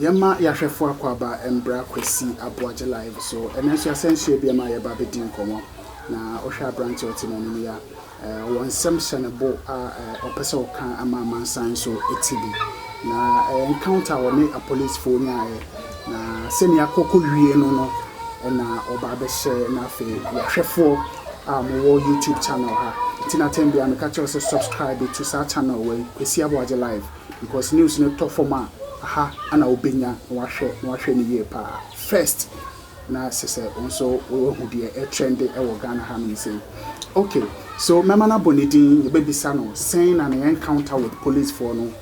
Yɛma yɛahwɛfo akwaaba mbra Kwesi Aboagye live so. Ɛnɛ nso yɛasɛn so ebi ma yɛba abedi nkɔmmɔ. Na wohwɛ aberante a ɔte m'anim yi a, Wɔ nsɛm hyɛ no bo a ɔpɛ sɛ ɔka ma amansan nso te bi, na encounter a ɔne apolisifo nyaeɛ, na sɛnea akɔ kɔwie no no na ɔba abɛhyɛ na afei yɛahwɛfoɔ a mowɔ YouTube channel ha nti na atɛn biara meka kyerɛ sɛ subscribe to saa channel wei Kwesi Aboagye Live because news no tɔ fam a aha ana wobɛnya na wahwɛ na wahwɛ no yie paa first Na se sɛ wo nso woahu deɛ ɛtrɛnde wɔ Ghana ha nom sei. Ok, so mɛma no abɔ ne din, yɛbɛbisa no sɛn na ne encounter with police foɔ no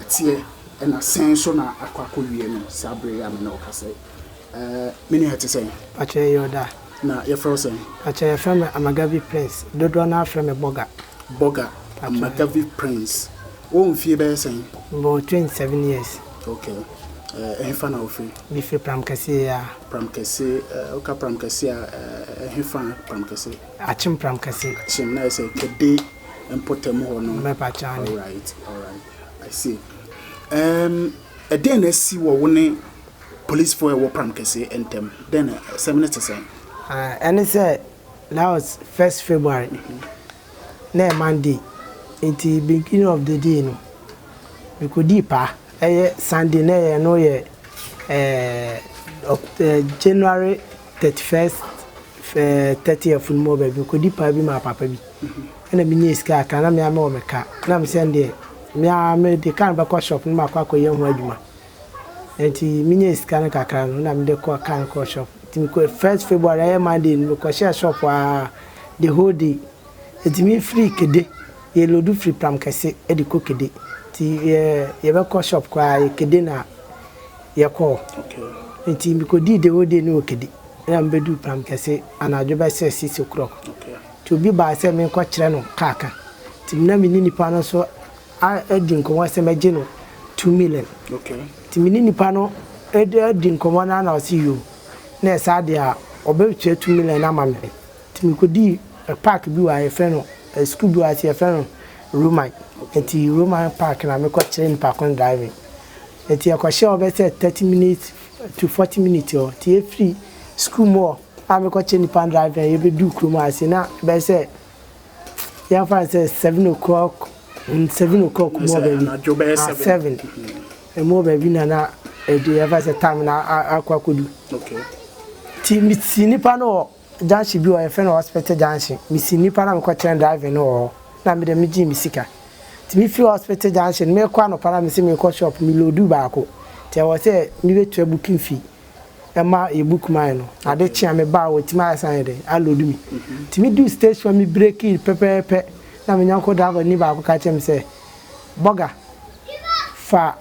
teɛ ɛna sɛn nso na akɔ akɔwie no saa bere yi a me ne wo kasa yi. Ɛɛ me nua ɛte sɛn? Pakyɛ yɛyɛ ɔda a. Na yɛfrɛ wo sɛn? Pakyɛ yɛfrɛ me Amagavi Prince, dodoɔ no ara frɛ me Bɔga. Bɔga, Amagavi Prince. Wowɔ mfie bɛyɛ sɛn? Mewɔ 27 years. Okay, eh, ɛhefa na wofiri? Mefiri Pramkɛseɛ ya. Pramkɛse, eh, woka Pramkɛse a, eh, ɛhefa Pramkɛse? Akyem Pramkɛse. Akyem, na ɛsɛ Kɛde mpɔtam hɔ no? Mɛpa kyɛ ane. Alright, alright, I see. Um, ɛdɛn na asi wɔ wo ne policefoɔ a ɛwɔ Pramkɛse ntam? Dɛn na ɛsɛm no te sɛn? Ah, ɛne sɛ, that was first February. Mm -hmm. na ɛyɛ Monday nti beginning of the day no mekodii pa ɛyɛ Sunday na ɛyɛ no yɛ ɛɛ January thirty first ɛɛ thirtieth no mu wɔ baabi mekodii pa bi maa papa bi ɛna menyɛ sika aka na mea mewɔ me ka na mesɛ deɛ mea mede ka no bɛkɔ shop no maakɔ akɔyɛ ho adwuma. Enti minyaa sika no kakra no na mede kɔɔ kaa no kɔɔ shop. Enti mekɔɔ first February ɛyɛ Monday no mekɔhyɛɛ shop aa the whole day. Enti me firi Kede yɛ loadu firi Pram Kɛse de kɔ Kede. Enti yɛ yɛbɛkɔ shop koraa yɛ Kede na yɛkɔɔ. Enti mekɔdii the whole day no wɔ Kede ɛna mebɛduu Pram Kɛse anadwo bɛsɛ six o clock. Enti obi baa sɛ menkɔkyerɛ no kaa ka. Enti me na meni nnipa no so. adi nkɔmmɔ sɛ mɛgye no two million nti me ne nipa no adi nkɔmmɔ no ara na ɔse yoo na ɛsaa deɛ a ɔbɛtua two million no ama me nti mekɔdii park bi wɔ ha yɛfrɛ no school bi wɔ ha nti yɛfrɛ no Roman nti Roman park na mekɔ kyerɛ nipa ko no driving nti yɛkɔhyɛ hɔ bɛ sɛ thirty minutes to forty minutes hɔ nti yɛfiri school mu hɔ a mekɔ kyerɛ nipa no driving yɛbɛduu kurom ha sei na bɛyɛ sɛ yɛmfa no sɛ seven o'clock mm, seven o'clock mu wɔ baabi ah, seven mm-hmm. ɛmu wɔ baabi na na ɛdu yɛmfa sɛ time na akɔ akɔdu nti mesi nipa no wɔ junction bi wɔ yɛfrɛ no hospital junction mesi nipa na mekɔkyerɛ driving no wɔ hɔ na mede megye me sika nti mefiri hospital junction mekɔ anɔpa na mese mekɔ shop melodu baako nti ɛwɔ sɛ mebɛtua booking fee ɛma yɛbu kumaa no ade kye a me baa hɔ tumi ayɛ sɛ ayɛ dɛ aloodu me nti me duu station me brekii pɛpɛɛpɛ na me nyɔnko driver ni baako ka kyerɛ me sɛ bɔga fa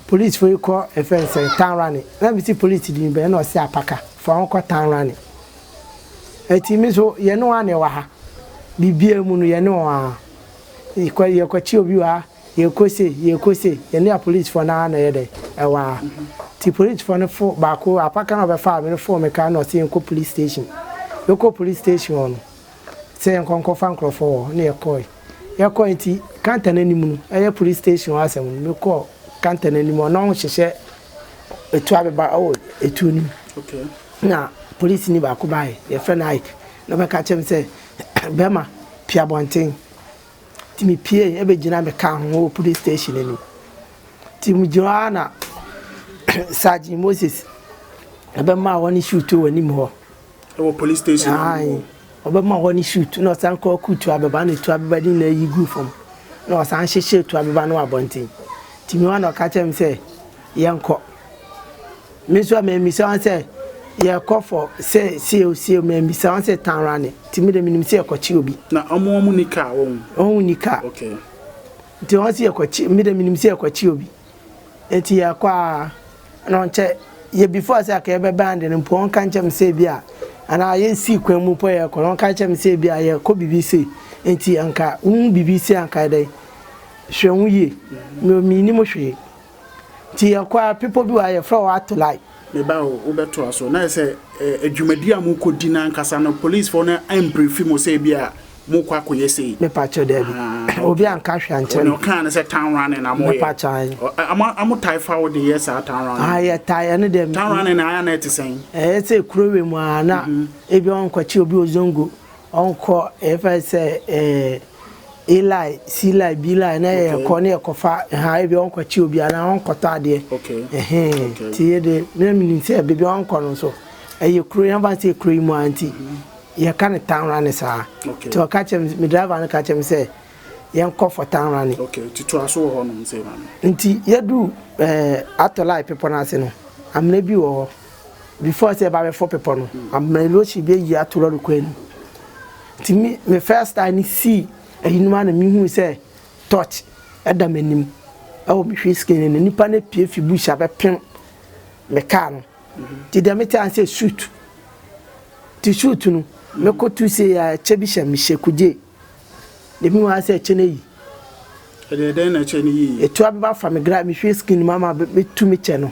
police fo yi kɔ ɛfɛ nsɛ tanrane na me si police di bɛn na ɔsi apaka fa wɔn kɔ tanrane ɛti me so yɛne wɔn a na ɛwɔ ha bibia mu no yɛne wɔn a yɛkɔ yɛkɔkye obi wɔ ha. Yɛkɔ se yɛkɔ se yɛne apolicefoɔ no ara na ɛyɛ dɛn ɛwɔ ha nti policefoɔ no fo baako apa ka na ɔbɛfaa me no foo me kra na ɔse yɛnkɔ police station yɛkɔ police station hɔ no sɛ yɛnkɔ nkɔfa nkorɔfoɔ wɔ hɔ na yɛkɔɔe yɛkɔɔe nti kanta no anim no ɛyɛ police station hɔ asɛm no mekɔɔ kanta no anim hɔ na ɔho hyehyɛ ɛtu abeba ɛwɔ ɛtuo no mu na police ni baako baeɛ yɛfrɛ no Ike na ɔbɛka kyerɛ me sɛ bɛrima pia bɔnten Nti me piee bɛgyina me car ho wɔ police station anim. Nti me gyina hɔ na Sergeant Moses ɛbɛma hɔ ne shoot wɔ anim hɔ. Ɛwɔ police station anim hɔ. Ɔbɛma hɔ ne shoot na ɔsan kɔ ku tu abɛba na tu abɛba de nyinaa yi gu fam na ɔsan hyehyɛ tu abɛba no abɔnten. Nti me hɔ na ɔka kyerɛ me sɛ yɛnkɔ. Me nso a memmisa wɔn sɛ yɛrekɔ fɔ sɛ sieo sieo, memmisa wɔn sɛ tan rane, nti me deɛ menim sɛ yɛkɔkye obi. Na wɔn wɔn nni kaa wɔn? Wɔn wɔn nni kaa. Okay. Nti wɔn se yɛkɔkye, me deɛ menim sɛ yɛkɔkye obi. Nti yɛrekɔ a, na ɔnkyɛ yɛ before sɛ aka yɛbɛbɛn ade no mpo, wɔka nkyɛ me sɛ ebi a, anaa yɛsii kwan mu mpo yɛrekɔ no, wɔka kyɛ me sɛ ebi a yɛrekɔ biribi sei, nti anka wohu biribi sei a anka yɛ dɛn? Hwɛ ho yie. Me mennim hwee. Nti yɛkɔ a, bepɔ bi wɔ ha, yɛfrɛ hɔ Atolai. Me ba o, wobɛtoa so. Na ayɛ sɛ eh, dwumadi a mokɔdi no ankasa no, polisfoɔ no ambrifi mo sɛ ebi a mokɔ akɔyɛ sei? Mepakyɛ daabi. Ah, okay. Obi anka hwɛ ankyerɛ me. Wɔn ɔkaa no sɛ town running na moyɛ. Mepakyɛ ayi. Ɔmo ɔmo tae fa wo de yɛ saa town running. Ah, yɛ tae ɛno deɛ. Town running na ayɛ na ɛte sɛn? Ɛyɛ sɛ kuro wɛ mu a na ebi ɔnkɔkye obi ozongo. Ɔnkɔ yɛfrɛ no sɛ eh, Eli, Sili, Bili na yɛ okay. kɔ ne yɛ kɔfa ha ebi ɔnkɔ kyi obi anaa ɔnkɔtɔ adeɛ okay. ɛhɛn okay. ti yɛ de ne mi nim sɛ beebi ɔnkɔ no nso ɛyɛ kuro yɛn fa sɛ kuro yi mu anti yɛ ka ne town run saa okay. ti ɔka kyɛm mi driver no ka kyɛm sɛ yɛn kɔ for town run. okay ti to aso wɔ hɔ nom sɛ ma no. nti yɛ du ɛɛ eh, atɔ lai pepɔ n'ase no amena bi wɔ hɔ. Before sɛ yɛbɛforo bepɔ no, Amena Iloshi bɛyi ato lɔre kwan no mu. Nti me, me first time no sii ayinom a na mehui sɛ torch ɛda m'anim ɛwɔ me hwee skin no. Nipa no apue fi bush abɛpem me kaa no. Nti deɛ mete ase sɛ suit. Nti suit no, mekɔtu sɛ yɛ ɛkyɛ bi hyɛ mehyɛ kugye. Deɛ mehu ara sɛ ɛkyɛ no ayi. Ɛdeɛ dɛn na ɛkyɛ no yii? Ɛtu abɛba fa me gra, me hwee skin no mu ama bɛtu me kyɛ no.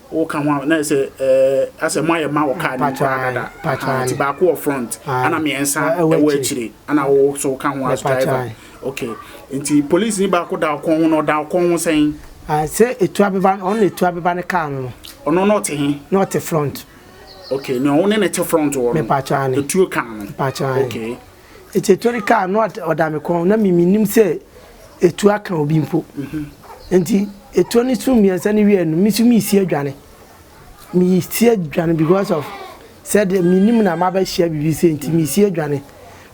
Wo ka ho a na ɛsɛ ɛɛ asɛ mo ayɛ ma wɔ car nim koraa dada ahaa ti baako wɔ front ana miɛnsa ɛwɔ akyire ana wo so ka ho as driver ok nti police ni baako da ɔkɔn ho na ɔda ɔkɔn ho sɛn. Sɛ etu abeba no ɔno na etu abeba ne car no no. Ɔno na ɔte he. Na ɔte front. Ok na ɔwo ne ne te front wɔ no etuo car no ok. Etse tori ka a, na ɔda me kɔn, na me minnim sɛ etuo aka obi mpo. Enti etuo no so mmiɛnsa no wiee no, me nso meresie dwane. Meresie dwane because of sɛ deɛ menim na mabɛhyia biribi sɛ nti meresie dwane.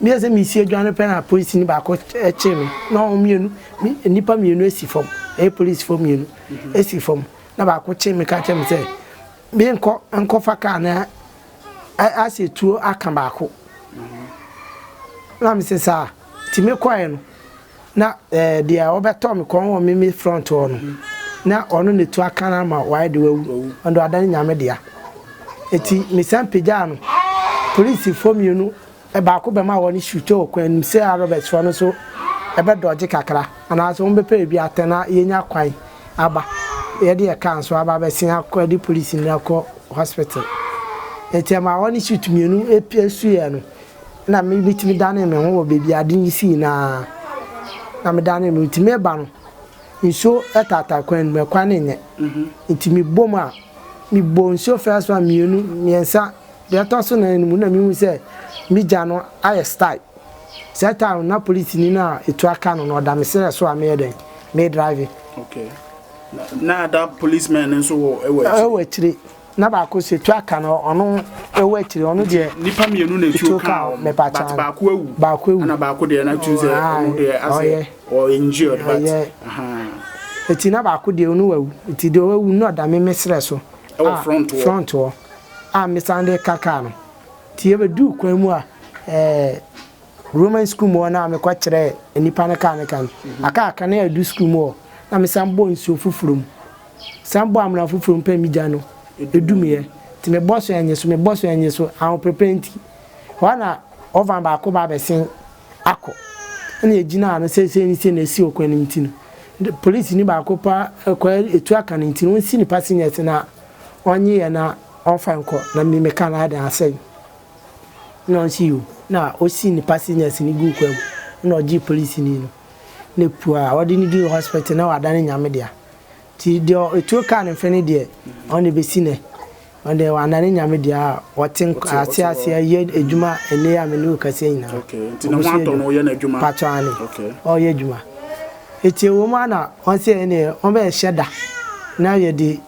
Meyɛ sɛ meresie dwane pɛ na polisini baako kyee me na wɔn mmienu nnipa mmienu si fam ɛyɛ polisifo mmienu si fam na baako kyee me ka kyerɛ me sɛ Menkɔ nkɔfa kaa no asɛ tuo aka baako na mese saa nti mekɔɛ no na eh, deɛ ɔbɛtɔ me kɔn wɔ mimi front hɔ no na ɔno na tu aka no ama wayɛ de wawu ɔno de ɔada ne nyame dea nti mesan pagyaa no polisifoɔ mmienu Baako bɛma hɔ no sutɔ wɔ kwan mu sɛ a Roberts foɔ no nso ɛbɛ dɔgye kakra anaa sɛ wɔn bɛpɛ baabi atɛn na yɛnya kwan aba yɛde yɛ car nso aba abɛsen akɔ de polisi no akɔ hospital nti ɛma hɔ no suit mmienu ɛpia suiɛ no na me bitumi danee me ho wɔ baabi ade yi sii na na me danee me nti meba no nsuo ɛtaataa kwan mu ɛkwan no nyɛ nti mebom a mebɔ nsuo first one mmienu mmiɛnsa Deɛ ɛtɔ so nan no mu na mehu sɛ me gya no ayɛ style. Saa time no na polisini no a etu aka no no ɔda me serɛ so a meyɛ dɛn? Me drive. Okay. Na na ada policeman no nso wɔ ɛwɔ akyire. Ɛwɔ akyire. Na baako sɛ etu aka no ɔno ɛwɔ akyire ɔno deɛ. Nipa mmienu na etuo kaa wɔn. Mepa kyɛw. But baako awu. Baako awu. Ɛna baako deɛ na tu sɛ ɔno deɛ asɛ ɔyɛ injured but. Ɔyɛ. Eti na baako deɛ ɔno awu. Eti deɛ ɔwɔ awu no na ɔda me me serɛ so. Ɛwɔ front wɔ. Front wɔ. a mesan de ka kaa no. Nti yɛbɛduu kwan mu a ɛɛ Roman sukuu mu hɔ no a mekɔ kyerɛɛ nnipa no kaa no kan. Aka aka no a ɛdu sukuu mu hɔ na mesan bɔ nsuo foforɔ mu. San bɔ amena foforɔ mu pɛ me gya no ɛdumiiɛ. Nti mebɔ so ɛnye so, mebɔ so ɛnye so, ahoprepɛ nti. Hɔ ara na ɔvan baako ba abɛsen akɔ. Ɛna ɛgyinaa no sɛ sei ne sei na ɛsi ɔkwan no mu nti no, polisini baako paa ɛkɔ ɛtu aka no nti no ɔnsi ne passengers no a. ɔnye yɛ na ɔmfa nkɔ na me meka no adan asɛe no. Nna ɔnnsɛ yi o. Na osii ne passenger sini guu kwaa mu. Nna ɔgyee polisini no ne pua a ɔde no duu hospital na ɔada no Nyame dea. Ntsi deɛ etuo kaa ne mfe no deɛ ɔno deɛ besi nnɛ ɔno deɛ ɔada no Nyame dea a ɔtse nka ase ase yɛ edwuma ndɛ yi a menye wo rekasa yi nyina. Oboso yɛ edwuma. Mpatsɔ aane. Ɔreyɛ edwuma. Ntsi ewɔ mu a nna ɔnnsɛ yɛn deɛ ɔbɛhyɛ da na yɛde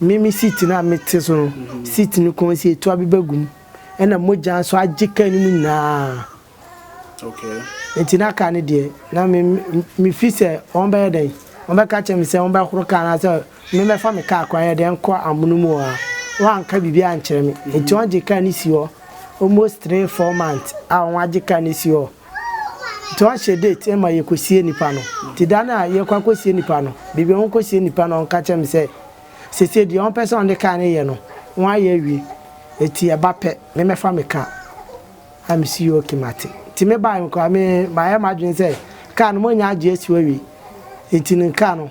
Me me seat no a mete so no seat no kɔn si etu abeba gu mu ɛna mogya nso agye kaa no mu nyinaa okay nti na kaa no deɛ na me me fi sɛ wɔn bɛyɛ dɛn wɔn bɛka kyerɛ me sɛ wɔn bɛhoro kaa no sɛ me mɛfa me kaa kwan yɛ dɛn nkɔ amono mu a wɔn anka biribi ankyerɛ me nti wɔn gye kaa no si hɔ almost three four months a wɔn agye kaa no si hɔ. Nti ɔnhyɛ date mma yɛkɔsie nipa no. Nti da no a yɛrekɔ akɔsie nipa no, baabi a wɔrekɔsie nipa no, ɔka kyerɛɛ me sɛ, seesei deɛ wɔpɛ sɛ wɔde kaa no yɛ no, wɔayɛ awie. Nti ɛba pɛ, memmɛfa me car. Ɛna mese okay, mate. Nti mebaeɛ no koraa, me, mayɛ m'adwene sɛ car no moanya agye asi hɔ awie. Nti no car no,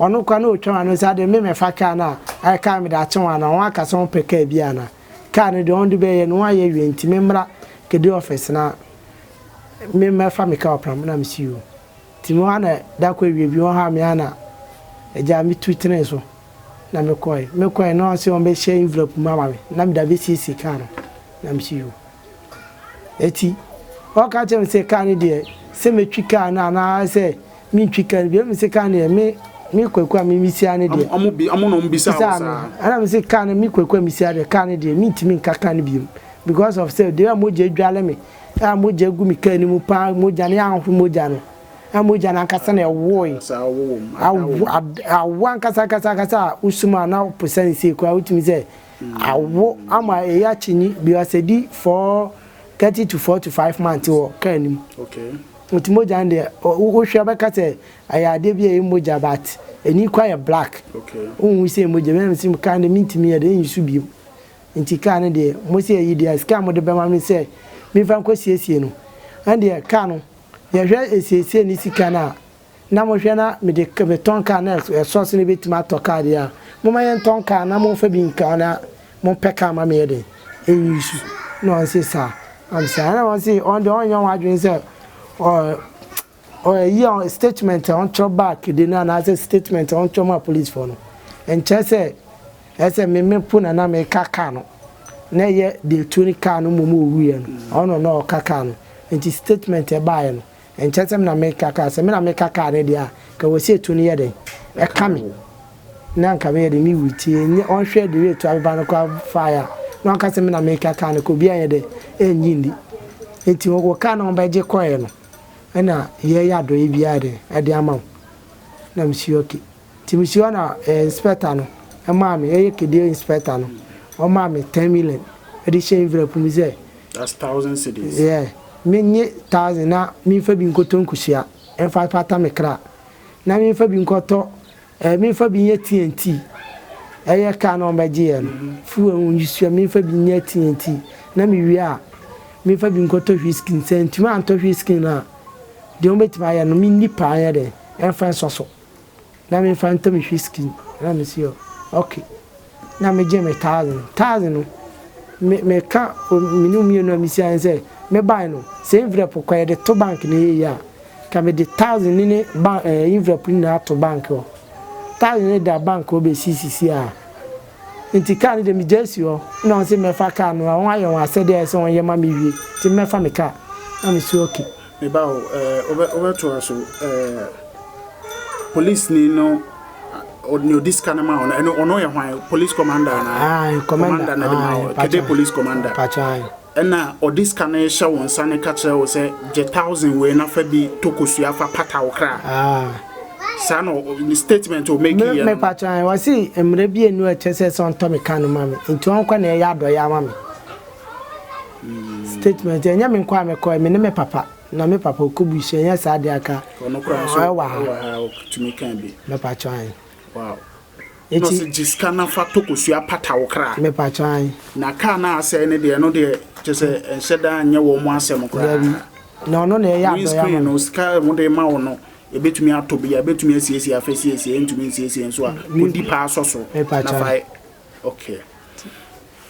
Ɔno koraa na ɔtwam ana? Ɔsi adeɛ me mɛfa kaa no a ayɛ kaa mede akye wɔn ana? Wɔn aka sɛ wɔn pɛ kaa bi ana? Kaa no deɛ wɔn de bɛyɛ no wɔn ayɛ awie nti me mmra kedi office na me mɛfa me kaa wɔ pram na me si o. Nti me hɔ ana da kɔ awie bi wɔn haa me ana agya me tu tenee so na me kɔɛ. Me kɔɛ na wɔn se wɔn bɛhyɛ envelope mu ama me na mede abɛsiesie kaa no na me si o. akyi. Ɔka kyerɛɛ me sɛ kaa no deɛ sɛ mɛtwi kaa no anaa sɛ mentwi kaa no bi. Ɛna mese kaa no deɛ me me Kwaku a me mesia no deɛ. Ɔmo bi ɔmo na ɔmo bisaa wo saa. Ɛna mese kaa no me Kwaku a mesia deɛ kaa no deɛ mentumi nka kaa no biom because of sɛ deɛ a mogya adware me a mogya agu me kaa no mu paa mogya no yɛanhohoro mogya no na mogya no ankasa na ɛwoe awo ankasa ankasa ankasa a wosumaa na ɔpo sane sei koraa wotumi sɛ Awo ama eyi akyinyi bi ɔsɛ di for thirty to forty five months wɔ car no mu. Nti mogya no deɛ wo hwɛ bɛka sɛ ɛyɛ adeɛ bi a ɛyɛ mogya but ɛni kɔ ayɛ black. Wo hu sɛ mogya bi na mesi car no deɛ me ntumi yɛ deɛ ɛnyi so biom. Nti car no deɛ mo sɛ ɛyi deɛ sika a mo de bɛma me sɛ me nfa nkɔ siesie no ɛndeɛ car no yɛhwɛ esiesie ne sika no a na mohwɛ na mede metɔn kaa na ɛsɔ sɛ mebɛtumi atɔ kaa deɛ a, momma yɛntɔn kaa na momfa bi nka hɔ na mompɛ kaa ma me yɛ dɛn? Ɛnwi su. Na wɔn se saa. Am saa. Ɛna wɔn se wɔn deɛ wɔnyɛ wɔn adwene sɛ ɔ ɔ ɛyi a statement a wɔtwerɛ back de no anaasɛ statement a wɔtwerɛ ma policefoɔ no nkyɛ sɛ ɛsɛ me me po na na meka kaa no na ɛyɛ deɛ tuo ne kaa no mmom ɔwuiɛ no ɔno na ɔka kaa no nti statement ɛbaeɛ no Ɛnkyɛ sɛ me na meka kaa, sɛ me na meka kaa no deɛ a, nka wɔ sɛ etu no yɛ dɛn? Ɛka me na nka meyɛ dɛn? Me wui ti nyɛ ɔnhwɛ deɛ etu abeba no koraa faeɛ a, na ɔnka sɛ me na meka kaa no ka obi anyɛ dɛn? Ɛnye nni. Nti wo wo kaa no a wɔbɛgye kɔeɛ no na yɛyɛ adɔeɛ biara dɛn? Ɛde ama wo. Na mesi okay. Timisoa na ɛyɛ inspector no maa me ɛyɛ kedie inspector no ɔmaa me ten million ɛde hyɛ nvira pu mu sɛ That's thousand cedis. yeah me nye thousand na me nfa bi nkɔtɔ nkusua ɛnfa pata me kra na me nfa bi nkɔtɔ ɛɛ me nfa bi nyɛ TNT ɛyɛ car na ɔbɛ gye yɛ no fuel ho nkusua me nfa bi nyɛ TNT na me wie a me nfa bi nkɔtɔ whisky sɛ ntumi antɔ whisky no a deɛ ɔbɛ tumi ayɛ no me nni paa nyɛ dɛn ɛnfa nsɔ so. na me nfa ntɔ me whiskey na me se ok na me gye me thousand no thousand no me me ka me ne mmienu a me si ayɛ sɛ me ban no sɛ envelope kɔ yɛ de to bank ne yɛ yɛ a ka me de thousand ne ne ban ɛɛ eh, envelope ne na ato bank hɔ thousand ne da bank hɔ bɛ si sisi a nti kaa ne de me gya si hɔ na wɔn se mɛfa kaa no a wɔn ayɛ wɔn asɛdeɛ ayɛ sɛ wɔn yɛ ma me wie nti mɛfa me kaa na me si okay. Me ba o, eh, wobɛ, wobɛtoa so, eh, polisini no, ɔne odi sika no ma ɔno, ɛno ɔno yɛ hwan, police commander na, ayi, commander na de ma ɔ, kɛde police commander, ɛna ɔde sika no hyɛ wɔn nsa no ka kyerɛ wo sɛ, gye thousand wei na fa bi tokosua fa pata wo kra. saa na statement o make yɛ no. Me pa kyɛn, wɔsi mmerɛ bi enu ɛkyɛ sɛ sɛ ɔntɔ me ka no ma me, nti ɔnkɔ na ɛyɛ adɔyɛ ama me. Statement, Ɛnyɛ me nko a mekɔe, me ne me papa, na me papa ɔkɔbui so, ɛnyɛ saa deɛ aka. Ɔno koraa nso ɔwɔ ha. Ɔwɔ ha, ɔtumi kaa bi. Mɛpakyɛ ae. Wow. Eti. Na ɔsɛ gye sika na fa tɔ kosua pata wo kra. Mɛpakyɛ ae. Na kaa na asɛe ne deɛ, ɛno deɛ kyɛ sɛ ɛnhyɛ da nyɛ wɔn mo asɛm koraa. Dabi. Na ɔno na ɛyɛ adɔyɛ ama me. Windscreen no, sika a wɔde ma wo no, ɛbɛtumi atɔ bi a, ɛbɛtumi asiesie afasiesie, ɛntumi nsiesie nso a, kɔdi paa sɔ so. Mɛpakyɛ ae. Na fa. Okay.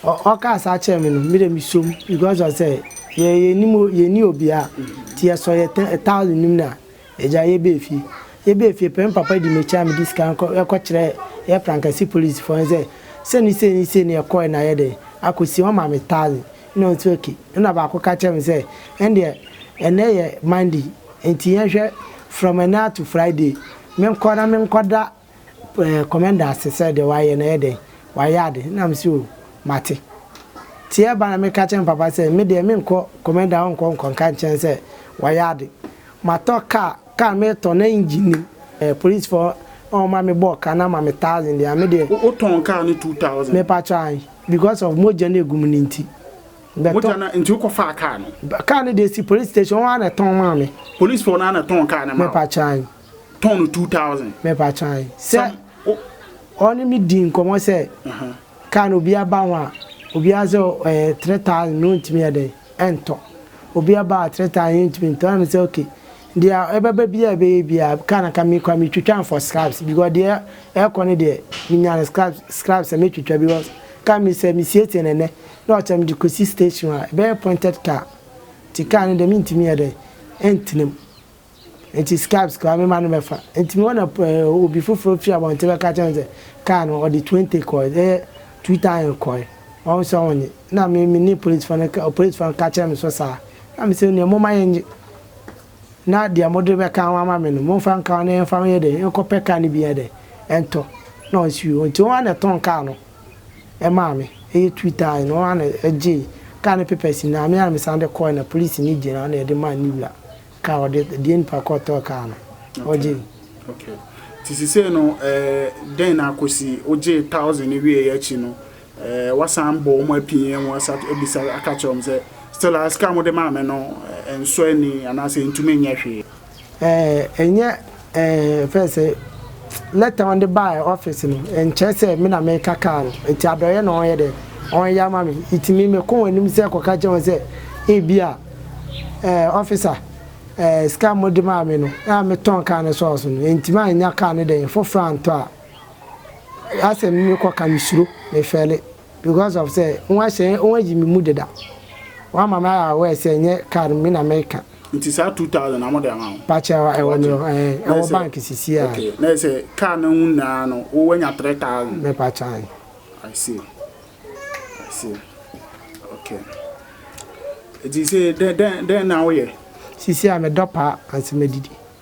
Ɔkaa saa kyerɛ me no, me de me som because ɔ sɛ yɛ yɛ nim yɛ ni obia ti yɛ sɔ yɛ tɛ taali nim na yɛ gya yɛ bɛ fie yɛ bɛ fie pɛm papa di me kyɛ me di sika nkɔ yɛ kɔ kyerɛ yɛ frankasi polisi fɔ sɛ sɛ ni sɛ ni sɛ ni yɛ kɔ yɛ na yɛ dɛ akɔ si wɔn ma me taali na ɔn sɛ okay ɛna baako ka kyerɛ me sɛ ɛndeɛ ɛnɛ yɛ mandi nti yɛn hwɛ from ɛnɛ to friday me nkɔ na me nkɔ da Eh, Commander ase sɛ deɛ wayɛ no ɛyɛ dɛn? Wayɛ ade? Ɛna mese oh, mate. Nti ɛba na meka kyerɛ me papa sɛ, me deɛ menkɔ, Commander ɔnkɔ nkɔ nka nkyerɛ no sɛ wayɛ ade. Matɔ car, car no metɔ na engine nim, eh, policefoɔ na wɔma me bɔɔ ka no ama me thousand deɛ a, me deɛ. Wo tɔn car no two thousand? Me pakyɛ ae, because of mogya no egu mu no nti. Mogya no, nti wokɔ faa car no? Car no deɛ esi police station, wɔn ara na ɛtɔn maa me. Policefoɔ no ara na ɛtɔn car no maa wo? Me pakyɛ ae. tɔn no two thousand. Mepakyɛ ae sɛ ɔne me dii nkɔmɔ sɛ car no obiara ba ho a obiara sɛ ɛyɛ three thousand na ɔntumi yɛ dɛn ɛntɔ obiara ba a three thousand yɛntumi ntɔ ɛna me sɛ okay deɛ ɛbɛba biara a ɛbɛyɛ biara car no ka mekɔ a metwitwa no for scraps because deɛ ɛkɔ no deɛ menya no scraps scraps a mɛtwitwa because car me sɛ mesiesie no ɛnɛ na ɔkyɛ mede kɔsi station a ɛbɛyɛ pointed car nti car no deɛ mentumi yɛ dɛn ɛntena mu. Enti Scribes kaa me ma no bɛfa. Enti me hɔ na obi foforo fi abɔnten bɛka kyerɛɛ me sɛ, Kaa no, ɔde twenty kɔe, ɛyɛ two thousand kɔe. Wahu sɛ onnye. Na me, me ne polisifo no ka, polisifo no ka kyerɛɛ me so saa. Na mise, Nea momma yɛnnye, na deɛ mode bɛka ho ama me no, momfa nka ho na yɛmfa ho nyɛ dɛn? Yɛnkɔpɛ kaa no bi nyɛ dɛn? Ɛntɔ. Na ɔnsiw. Enti wɔn ara na ɛtɔn kaa no maa me, ɛyɛ two thousand. Wɔn ara na ɛgyee kaa no papers nyinaa. Me ara na mesan de kɔe, na polisini gyina hɔ na yɛde maa ne wura. Car wɔde deɛ nipa kɔ tɔ car no ɔgye. Okay ti sisei no ɛɛ dɛn na akosi ogye thousand ne wie yɛ akyi no ɛɛ wasan bɔ wɔn apin yɛn wɔn asa ebisa aka kyerɛ wɔn sɛ still asika mo de maame no ɛnsɔ ani anaasɛ ntumi nyɛ hwee. Ɛɛ ɛnyɛ. Ɛɛ fɛn sɛ lɛta wɔn de baa ɔfis no nkyɛn sɛ me na meka kaa no nti adɔyɛ na wɔyɛ dɛ wɔyɛ ama me nti me mekɔ wɔn anim sɛ kɔka kyerɛ wɔn sɛ ebi a ɛɛ ɔfisa ɛɛ sika mo de maa me no a metɔn kaa no sɔɔso no nti ma nya kaa no dɛn foforɔ antɔ a asɛm no mekɔ ka me suro me fɛle. Because of sɛ wɔahyɛ wɔayi me mu deda. Wɔama me ayɛ aware sɛ nyɛ car no me na meka. Nti saa two thousand na wɔde ama wo? Pakyɛ ɛwɔ me hɔ ɛɛ ɛwɔ bank sisi a. Okay na yɛ sɛ car no ho nyinaa no wo wanya three thousand? Me pakyɛ ae. I see I see okay nti sɛ dɛn dɛn dɛn na woyɛ? Sisi a me dɔ paa ansa me didi.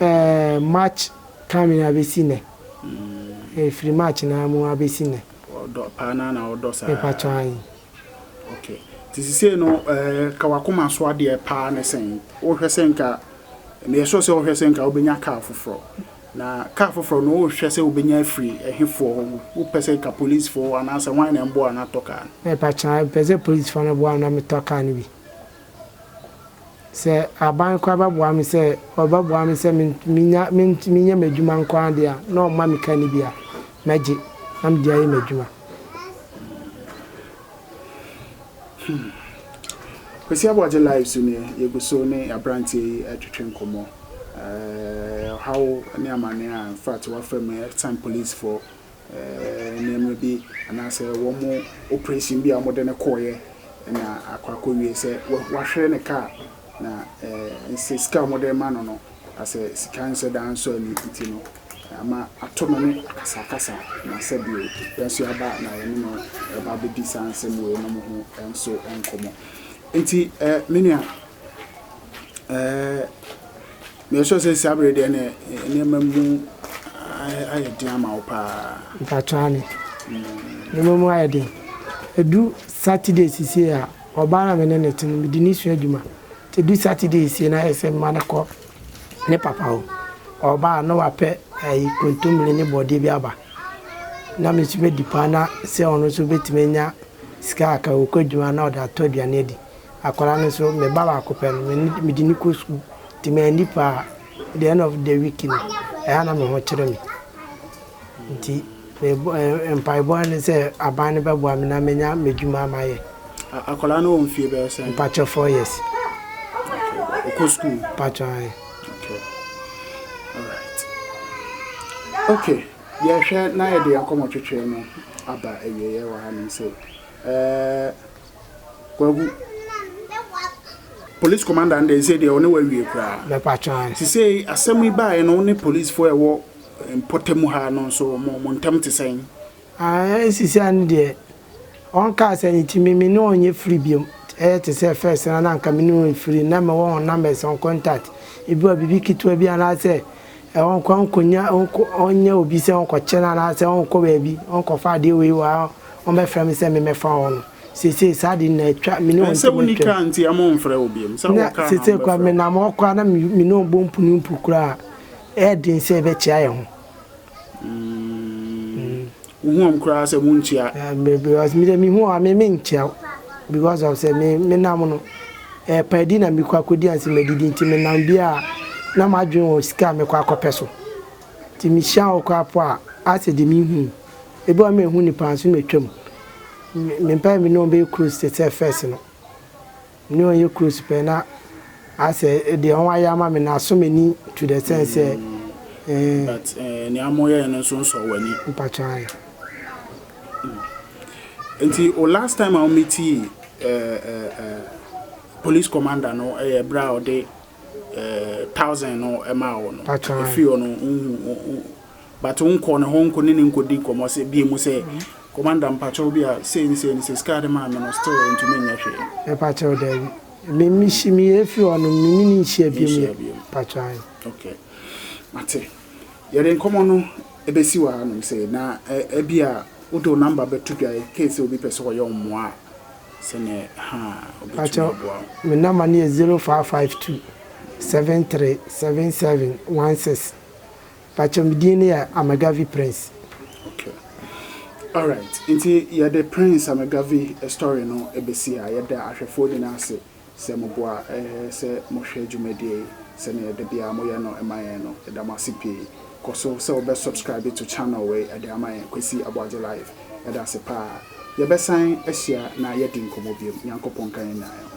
Ɛɛ March time no abɛsi nnɛ. Ɛɛ firi March no ara mu abɛsi nnɛ. Ɔdɔ paa no ara na ɔdɔ saa. Mepakyɛw ahe. Ok. Nti sisei no ɛɛ ka w'akoma so adeɛ paa ne sɛn? Wohwɛ sɛ nka, meyɛ sure sɛ wohwɛ sɛ nka wobɛnya car foforɔ. Na car foforɔ no wohwɛ sɛ wobɛnya afiri ɛhefoɔ hɔ? Wopɛ sɛ nka policefoɔ anaasɛ hwan na ɛmboa wo na atɔ car no? Mepakyɛw ahe. Mepɛ sɛ policefoɔ no boa me na metɔ car no bi. Sɛ aban koraa bɛboa me sɛ ɔbɛboa me sɛ menya mentumi nyɛ m'adwuma nko ara deɛ a, na ɔmma me ka no bi a, mɛgye na mede ayɛ m'adwuma. Hmm. Kwasi Aboagye live so nie, yɛgu so ne aberanteɛ yi retwetwe nkɔmmɔ. Ɛɛ, ɔhaw ne amanneɛ a in fact wafa mu, ɛsiane policefoɔ nneɛma bi anaasɛ wɔn oprehyɛn bi a wɔde no kɔeɛ na akɔ akɔwie sɛ wahwere ne kaa na sɛ sika a wɔde rema no no asɛ sika nsɔ da nsɔ ani nti no ama ato no ne akasakasa na sɛ bio yɛn nso yɛaba na yɛne no ɛba abɛdi saa nsɛm wei nom ho nso nkɔmmɔ nti me nua ɛɛ Meresuo sɛ saa bere deɛ na nneɛma mu ayɛ den ama wo paa. Mpakyɛ ane. Nneɛma mu ayɛ den. Edu Saturday sisie a, ɔbaa na me ne no te no, mede no sua adwuma. Nti edu Saturday esie na ayɛ sɛ mema no kɔ ne papa hɔ. Ɔba a na wapɛ ɛyi kontomire ne bɔdeɛ bi aba. Na me nso medi paa na sɛ ɔno nso betumi anya sika kakra, ɔkɔ adwuma na ɔde atɔ aduane adi. Akwadaa no nso, me ba baako pɛ no, mede no kɔ sukuu, nti manni pɛ a, the end of the week no, ɛyɛ a na me ho kyere me. Nti mpaebɔ ara ne sɛ aban no bɛboa me na manya m'adwuma mayɛ. Akwadaa no wɔ mfeɛ bɛyɛ sɛn? Mpakyɛ four years. Ɔkɔ sukuu? Mpakyɛ ae. Okay. Alright. Okay. Yɛhwɛ na yɛde akɔmɔtwetwe no aba awieɛ wɔ hanom sei. Eh, Kwaku, police commander no deɛ, sei deɛ ɔne wawie koraa. Mɛpatwaa. Ti sei asɛm yi baeɛ no, wo ne policefoɔ a ɛwɔ mpɔtam ha no nso, mo mo ntam te sɛn? Ah, nsisia no deɛ, ɔnkaa sɛ ne ti me me ne wɔn nyɛ free biom. Ɛyɛ te sɛ first no na anka me ne wɔn yɛ free, na mewɔ wɔn numbers, wɔn contact. Ebi wɔ a, biribi ketewa bi anaasɛ. ɔnkɔ nkɔnya, ɔnkɔ ɔnyɛ obi sɛ ɔnkɔkyɛ no anaasɛ ɔnkɔ baabi ɔnkɔfa adeɛ wei wɔ ha, ɔmmɛfrɛ me sɛ memmɛfa hɔ no. Seesei saa adeɛ no na atwa, me ne wɔn Ɛnsɛ ntam wonni atwam. kaa nti ama ɔmfrɛ wo biom, sɛ Na wɔ kaa na seesei koraa ɔmbɛfrɛ wo. menam hɔ koraa na me me ne wɔn bɔ mpu ne mpu koraa a, ɛyɛ den sɛ yɛbɛkyea yɛn ho. Mm. Wohu wɔn koraa sɛ wonkyia. Me because me deɛ me hu wɔn a me me nkyia wo because of sɛ me me nam no ɛyɛ paadi na me kɔ akɔdi ansa madidi nti me nam bi a na m'adwene wɔ sika a mɛkɔ akɔpɛ so nti me hyia wo koraa po a asɛ deɛ me hu ebi wɔ hɔ a me nhu nipa nso na atwa mu me mpɛ me ne wɔn bɛyɛ close te sɛ first no. Nea ɔnyɛ close pɛ na asɛ deɛ ɔn ayɛ ama me no asɔ m'ani to the extent sɛ eh. But eh, nea mo yɛɛ no nso nsɔɔ w'ani. Mpakyɛw ae. Mm. Nti o last time a wo meetii eh, eh, eh, police commander no ɛyɛ eh, berɛ a ɔde eh, thousand no ɛmaa wo no, Mpakyɛw ae. ɛfiri hɔ no, nhu, but wo nkɔ ne hɔ nkɔ ne no nkɔdi nkɔmmɔ sɛ bie mu sɛ commander mpakyɛw bi a sei ne sei ne sei sika a ɔde maa me no still ɛntumi nyɛ hwee. Mepakyɛw daabi me me hyi me yɛ firi hɔ no me ne no nhyia bie mu yɛ pakyɛw ae. Ok mate yɛde nkɔmmɔ no ɛbɛsi wɔ ha nom sei na ɛbia wo de wo number bɛto dwa in case sɛ obi pɛ sɛ ɔyɛ wo mmoa a sɛnɛ haa obɛtumi aboa wo. Pakyɛw me number no yɛ zero five five two seven three seven seven one six. Pakyɛ me din no yɛ Amegavi Prince. Ok alright nti yɛde Prince Amegavi story no bɛsi ha yɛda ahwɛfoɔ nyinaa ase sɛ mo boa sɛ mo hwɛ dwumadie yi sɛnea ɛda biara mo yɛ no ma yɛn no yɛda mo ase pii kɔ so sɛ wo bɛ subscribe to channel wei de ama yɛn Kwesi Aboagye live yɛda ase paa yɛ bɛ san ahyia na yɛ di nkɔmmɔ biom Nyankopɔn nka yɛn nyinaa ho.